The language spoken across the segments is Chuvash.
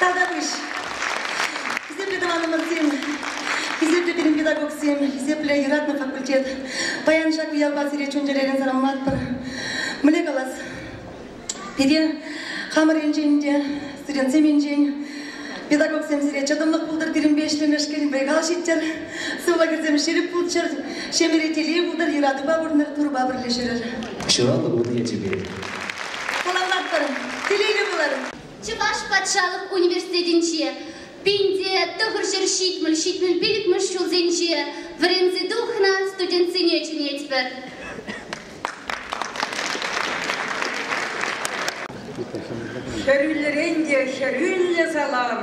Тавтапуҫ, хисеплӗ тӑванӑмӑрсем, хисеплӗ пирӗн педагогсем, хисеплӗ юратнӑ факультет. Паян ҫак уявпа сире чун-чӗререн саламлатпӑр. Мӗне калас? Пире хамӑр енчен те Студентсем енчен педагогсем сире чӑтӑмлӑх пултӑр пирӗнпе ӗҫлемешкӗнпе калаҫиттер, сывлӑхӑрсем ҫирӗп пулччӑр, ҫемьере телей пултӑр, юратупа пурӑнӑр, Турӑпа пӗрле ҫӳрӗр. Ҫуралнӑ кун ячӗпе. Саламлатпӑр, телейлӗ пулӑр! Чӑваш патшалӑх университетӗнче пин те тӑхӑр ҫӗр ҫитмӗл-ҫитмӗл-пилӗкмӗш ҫулсенче вӗренсе тухнӑ студентсене чӗнетпӗр. Хӗрӳллӗрен те хӗрӳллӗ салам,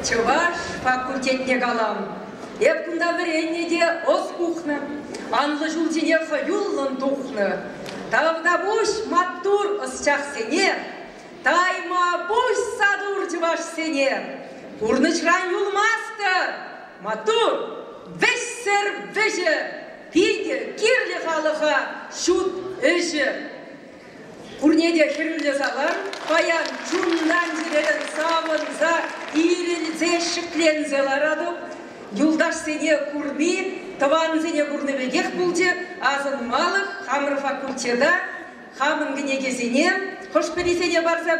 чӑваш факультетне калам. Эп кунта вӗреннӗ те ӑс пухнӑ, анлӑ ҫулсене хӑюллӑн тухнӑ. Тавтапуҫ маттур ӑсчахсене, таймапуҫ сатур чӑвашсене. Пурнӑҫран юлмастӑр, маттур, вӗҫсӗр вӗҫӗ, Питӗ кирлӗ халӑха ҫут ӗҫӗ. Пурне те хӗрӳлле салам, паян чунтан сирӗн савӑнса, ирӗлсе, ҫӗкленсе ларатӑп. Юлташсене курни, тӑвансене курни пекех пулчӗ. Асӑнмалӑх хамӑр факультета Хамӑн кӗнекесене хӑш-пӗрисене парса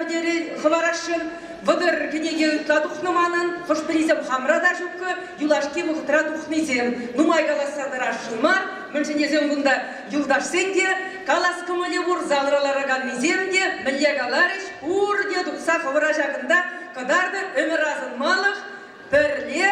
хӑварасшӑн. Вӑтӑр кӗнеке ытла тухнӑ манӑн. Хӑш-пӗрисем хамра та ҫуккӑ, юлашки вӑхӑтра тухнисем нумай каласса тӑрасшӑн мар. Мӗншӗн тесен кунта юлташсен те, калас кӑмӑлӗ пур, залра лараканнисем те мӗнле каларӗҫ, пурте тухса хӑвӑра ҫакӑнта кӑтартӑр. Ӗмӗр асӑнмалӑх пӗрле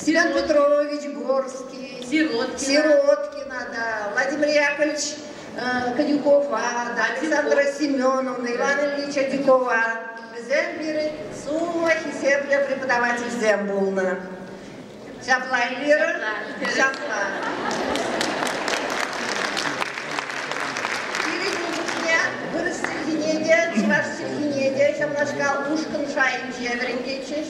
Сирен Петрович Горский, Сироткина, Сироткина да, Владимир Яковлевич Кадюкова, да, Александра Семеновна, Иван Ильич Адюкова. Вӗсем пирӗн сумма хисеплӗ преподавательсем пулнӑ. Ҫапла, Эльвира? Ҫапла. Пирӗн чухне вырӑс чӗлхине те, чӑваш чӗлхине те ҫавнашкал ушкӑн шайӗнче вӗрентетчӗҫ.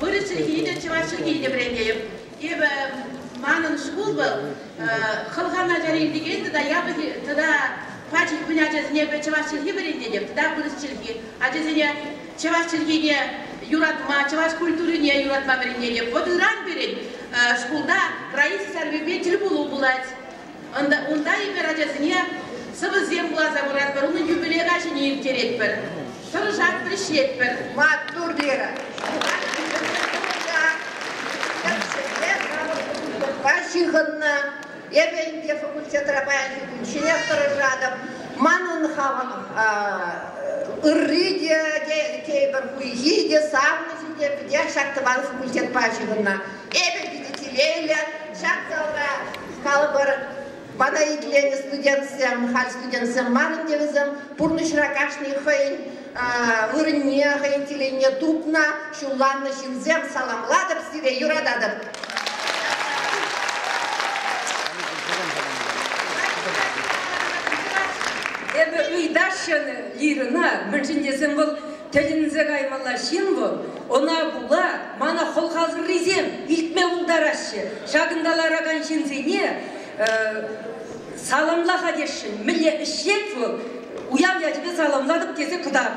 Вырӑс чӗлхи те, чӑваш чӗлхи те вӗрентетӗп. Эпӗ манӑн шкул вӑл хӑлхан ачари илтекен тата япӑх тата пачӑк пынӑ ачасене чӑваш чӗлхи вӗрентетӗп тата вырӑс чӗлхи. Ачасене чӑваш чӗлхине юратма, чӑваш культурине юратма вӗрентетӗп. Вот ыран пирӗн шкулта Раиса Сарвипе тӗл пулу пулать. Унта эпир ачасене сӑвӑсем вуласа куратпӑр, унӑн юбилей каҫине ирттеретпӗр, тӑрӑшатпӑр, ӗҫлетпӗр. Маттур, Вера! Факультетпа ҫыхӑннӑ. Эпӗ ӗнтӗ факультетра паянхи кун ҫӗнех тӑрӑшатӑп. Манӑн хамӑн ырри те, тейпӗр хуйхи те, савнӑҫӗ те питех ҫак тӑван факультетпа ҫыхӑннӑ. Эпӗ питӗ телейлӗ. Ҫак залра калӑпӑр, пана итленӗ студентсем, халь студентсем манӑн те вӗсем пурнӑҫра кашни хӑйӗн вырӑнне, хӑйӗн телейне тупнӑ, ҫулланнӑ ҫынсем. Саламлатӑп сире, юрататӑп. Эпӗ ыйтаҫҫӗ Лирӑна, мӗншӗн тесен вӑл Тӗлӗнсе каймалла ҫын вӑл. Ӑна пула мана хӑлхасӑррисем илтме пултараҫҫӗ. Ҫакӑнта ларакан ҫынсене саламла-ха тесшӗн. Мӗнле ӗҫет вӑл? Уяв ячӗпе саламлатӑп тесе кӑтарт.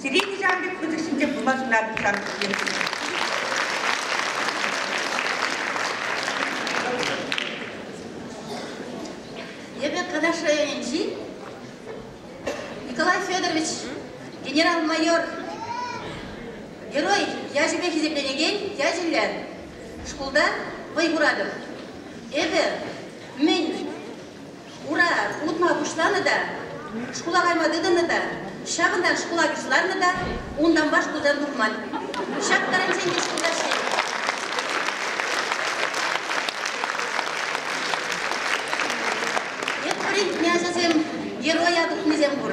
Сире нихҫан та пысӑк ҫынсем пулма сунатӑп сан пирки. Эпӗ Канаш районӗнчи Николай Федорович генерал-майор герой ячӗпе хисепленекен ячӗллӗ шкулта вӑй хуратӑп. Эпӗ мӗн Ура утма пуҫланӑ та, шкула кайма тытӑннӑ та, ҫакӑнтан шкула юсаннӑ та, унтанпа шкултан тухман. Ҫак тӑрӑнчен те шкулта ӗҫлет. Эп вӗрентнӗ ачасем героя тухнисем пур.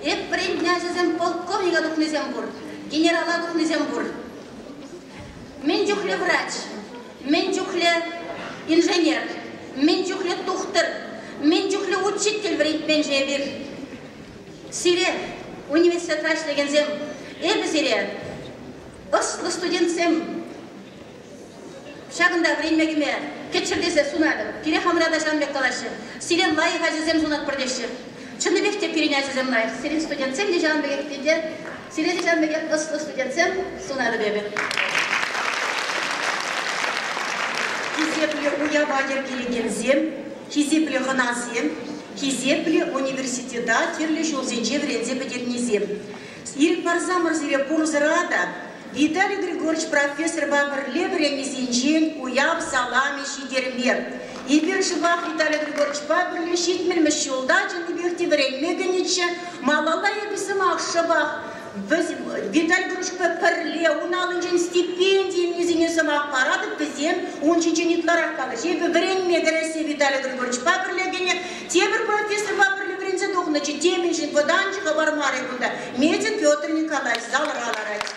Эп вӗрентнӗ ачасем полковника тухнисем пур, генерала тухнисем пур. Мӗн чухлӗ врач, мӗн чухлӗ инженер, мӗн чухлӗ тухтӑр, мӗн чухлӗ учитель вӗрентменшӗн эпир. Сире, университетра ӗҫлекенсем, эпӗ сире, ӑслӑ студентсем, ҫакӑнта вӗренме кӗме кӗччӗр тесе сунатӑп. Пире хамӑра та ҫавӑн пек калаҫҫӗ. Сире лайӑх ачасем сунатпӑр теҫҫӗ. Чӑннипех те пирӗн ачасем лайӑх, сирӗн студентсем те ҫавӑн пекех питӗ Сире ҫав пекех ӑслӑ студентсем сунатӑп эпӗ. Хисеплӗ уява йӗркелекенсем, хисеплӗ хӑнасем, хисеплӗ университета тӗрлӗ ҫулсенче вӗренсе пӗтернисем! Ирӗк парсамӑр сире пурсӑра та Виталий Григорьевич профессорпа пӗрле вӗреннисенчен уяв саламӗ ҫитермер. Эпир сӑмах Виталий Григорьевичпа пӗрле ҫитмӗлмӗш ҫулта чӑннипех те вӗренме кӗнӗччӗ. Малалла эпир сӑмах шӑпах Виталий Григорьевичпа пӗрле ун аллинчен стипенди илнисене сӑмах паратӑп. Вӗсем ун ҫинчен ытларах калаҫҫӗ. Эпӗ вӗренме кӗрессе Виталий Григорьевичпа пӗрле кӗнӗ. Тепӗр профессорпа пӗрле вӗренсе тухнӑччӗ. Темиҫен вӑтанчӑк хыпар мар кунта. Медик Петр Николаевич залра ларать.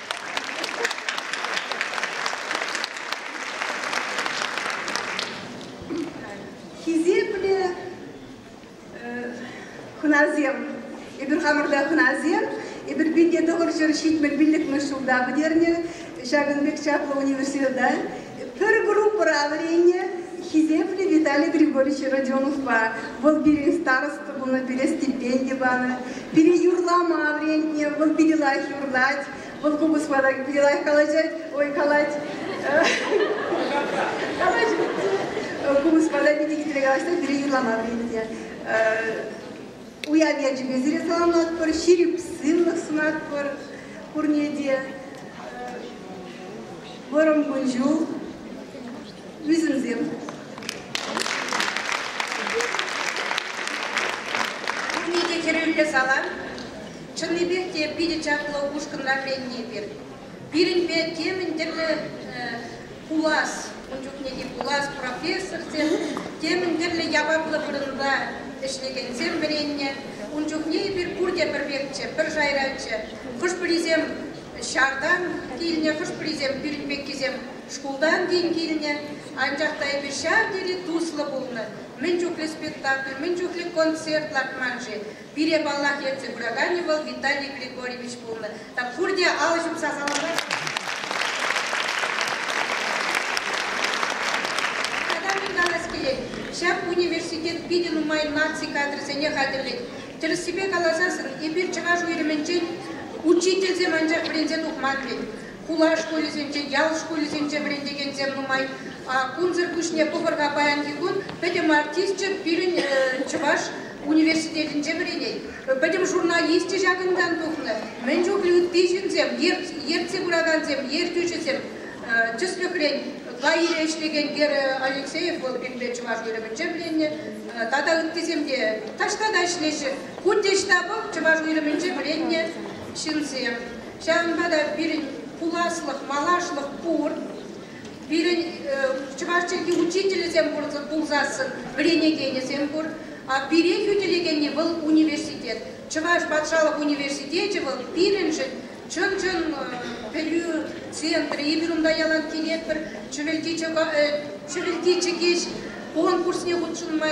Хисеплӗ хӑнасем, эпир хамӑрла хӑнасем, эпир пите тӑхӑр ҫӗр ҫитмӗл пиллӗкмӗш ҫулта пӗтернӗ ҫакӑн пек чаплӑ университета. Пӗр группӑра вӗреннӗ хисеплӗ Виталий Григорьевич Родионовпа. Вӑл пирӗн староста пулнӑ, пире стипенди панӑ. Пире юрлама вӗрентнӗ, вӑл питӗ лайӑх юрлать. Вӑл купӑс лайӑх калаҫать, ой, калать. Купӑс вара питӗ хитре калаҫать, пире юрлама вӗрентнӗ. Уяв ячӗпе сире саламлатпӑр, ҫирӗп сывлӑх сунатпӑр пурне те. Вӑрӑм кун-ҫул, ӳсӗмсем. Пурне те хӗрӳллӗ салам. Чӑннипех те питӗ чаплӑ ушкӑнра вӗренни пир. Пирӗнпе темӗн тӗрлӗ пулас, ун чухне те пулас профессорсем темӗн тӗрлӗ яваплӑ вырӑнта ӗҫлекенсем вӗреннӗ. Ун чухне эпир пурте пӗр пекчӗ, пӗр шайраччӗ. Хӑш-пӗрисем ҫартан килнӗ, хӑш-пӗрисем пирӗн пеккисем шкултан тин килнӗ. Анчах та эпир ҫав тери туслӑ пулнӑ. Мӗн чухлӗ спектакль, мӗн чухлӗ концерт лартман-ши? Пире, паллах, ертсе пыраканӗ вӑл Виталий Григорьевич пулнӑ. Так пурне алӑ ҫупса саламлать. Тата мӗн калас килет, ҫак университет питӗ нумай наци кадрӗсене хатӗрлет. Тӗрӗссипе каласан, эпир чӑваш уйрӑмӗнчен учительсем анчах вӗренсе тухман-мӗн. хула шкулӗсенче, ял шкулӗсенче вӗрентекенсем нумай. Кунсӑр пуҫне пӑхӑр-ха паянхи кун пӗтӗм артисчӗ пирӗн Чӑваш университетӗнче вӗренет. Пӗтӗм журналисчӗ ҫакӑнтан тухнӑ. Мӗн чухлӗ ытти ҫынсем, ертсе пыракансем, ертӳҫӗсем. Тӗслӗхрен, Лаире ӗҫлекен Гера Алексеев вӑл пирӗнпе чӑваш уйрӑмӗнче вӗреннӗ. Тата ыттисем те таҫта та ӗҫлеҫҫӗ. Кунти штабӑх Чӑваш уйрӑмӗнче вӗреннӗ ҫынсем. Ҫавӑнпа та пирӗн пуласлӑх, малашлӑх пур. Пирӗн чӑваш чӗлхи учителӗсем пулсассӑн вӗренекенӗсем пур. А пире хӳтӗлекенни вӑл университет. Чӑваш патшалӑх университечӗ вӑл пирӗншӗн чӑн-чӑн пӗлӳ центрӗ. Эпир унта ялан килетпӗр. Чӗвӗлти чӗкеҫ конкурсне хутшӑнма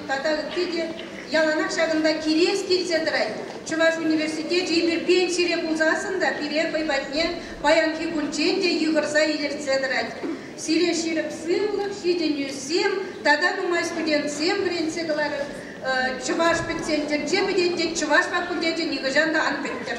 тата ытти те Яланах ҫакӑнта килес килсе тӑрать. Чӑваш университечӗ эпир пенсире пулсассӑн та пире хӑй патне паянхи кунччен те йыхӑрса илӗртсе тӑрать. Сире ҫирӗп сывлӑх, ҫитӗнӳсем тата нумай студентсем вӗрентсе кӑларӗҫ. Чӑваш пӗтсен тӗнче пӗтет, тет чӑваш факультечӗ нихӑҫан та ан пӗттӗр.